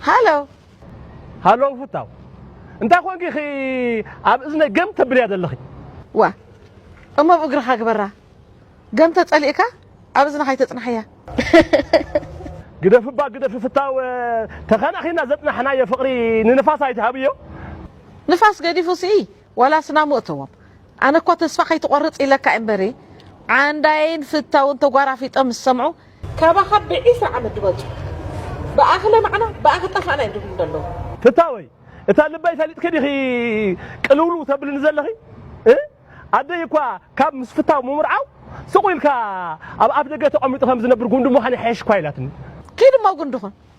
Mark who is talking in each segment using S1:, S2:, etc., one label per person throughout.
S1: ሃሎ ሃሎ ፍታው እንታይ ኮንኪ ኺ ኣብ እዝነይ ገም ተብልያ ዘለኺ ዋ
S2: እሞ ብ እግርኻ ግበራ ገም ተጸሊእካ ኣብ እዝንኻ ኣይተጽናሕያ ግደፍባ
S1: ግደፊ ፍታው ተኸናኺና ዘጽናሕናዮ ፍቕሪ ንንፋስ ኣይትሃብዮ ንፋስ
S2: ገዲፉ ሲ ዋላ ስናሙ እተዎም ኣነ እኳ ተስፋ ከይትቆርጽ ኢለካ እየ እምበሪ ዓንዳይን ፍታውን ተጓራፊጦም ምስ ሰምዑ ካባኻ ብዒስራ ዓመት ድበልጹ ብኣኺ ለማዕና ብኣኺ ጠፋእና እዮም ድብሉ ደለዉ። ፍታወይ
S1: እታ ልበይ ፈሊጥኪ ዲኺ ቅልውልው ተብልኒ ዘለኺ እ ኣደይ እኳ ካብ ምስ ፍታው ምምርዓው ስቁ ኢልካ ኣብ ኣፍደገ ተቀሚጡ ከም ዝነብር ጉንዲ ምዃን ይሓይሽ እኳ ኢላትኒ። ኪድ እሞ ጉንዲ
S2: ኩን።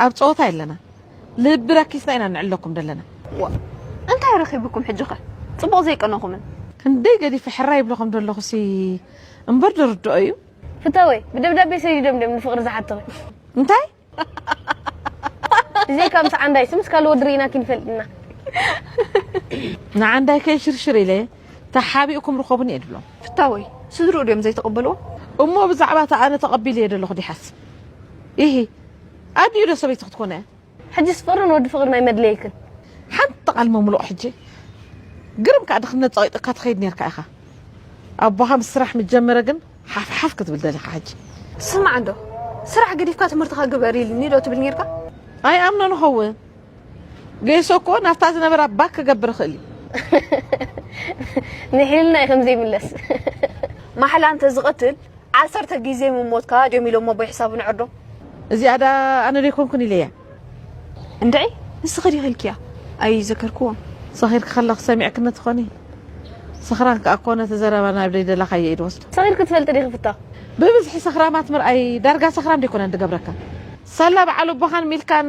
S2: ኣብ ጸወታ የለናን ልቢ ረኪስና ኢና ንዕለኩም ደለና። ዋእ እንታይ
S3: ረኺብኩም ሕጂኸ ጽቡቕ ዘይቀነኹምን። ክንደይ ገዲፈ
S2: ሕራይ ይብለኹም ደለኹሲ እምበር ድርድኦ እዩ። ፍታወይ
S3: ብደብዳቤ ሰዲዶም ድዮም ንፍቅሪ ዝሓቱኺ። እንታይ ብዘይካ ምስ ዓንዳይሲ ምስ ካልእ ወዲ ሪኢናኪ ንፈልጥ ኢና።
S2: ንዓንዳይ ከይሽርሽር ኢለ ተሓቢእኩም ርኸቡኒ እየ ድብሎም። ፍታወይ ስድርኡ
S3: ድዮም ዘይተቐበልዎ? እሞ ብዛዕባ
S2: እታ ኣነ ተቐቢለዮ ደለኹ ዲሓስብ? ኢሂ ኣዲኡ ዶ ሰበይቲ ክትኮን እያ? ሕጂስ ፍቕሪ
S3: ንወዲ ፍቕሪ ናይ መድለየክን። ሓንቲ ቓል
S2: ምምሉቕ ሕጂ ግርም ከኣ ድኽነት ጸቒጡካ ትኸይድ ኔርካ ኢኻ። ኣቦኻ ምስ ስራሕ ምስ ጀመረ ግን ሓፍ ሓፍ ክትብል ደሊኻ ሕጂ። ስማዕ እንዶ
S3: ስራሕ ገዲፍካ ትምህርትኻ ግበር ኢልኒ ዶ ትብል ኔርካ? ኣይኣምኖን
S2: እኸውን። ጌሶ እኮ ናብታ ዝነበራ ባክ ክገብር ይኽእል እዩ።
S3: ንሕልና እዩ ከምዘይ ምለስ ማሕላ እንተ ዝቐትል ዓሰርተ ግዜ ምሞትካ ድዮም ኢሎሞ ኣቦይ ሕሳቡ ንዕርዶ እዚኣ ዳ
S2: ኣነ ዶ ይኮንኩን ኢለያ እንድዒ
S3: ንስኺ ዲኺ ኢልክያ ኣይዘከርክዎን ሰኺርኪ ከለኺ
S2: ሰሚዕክኒ ትኾኒ ሰኽራን ከኣ እኮ ነቲ ዘረባ ናብ ደይደላኻዮ ኢድ ወስዶ ሰኺርኪ ትፈልጢ ዲኺ ፍታ
S3: ብብዝሒ ሰኽራማት
S2: ምርኣይ ዳርጋ ሰኽራም ደይኮነን ድገብረካ ሳላ በዓል ኣቦኻን ሚልካን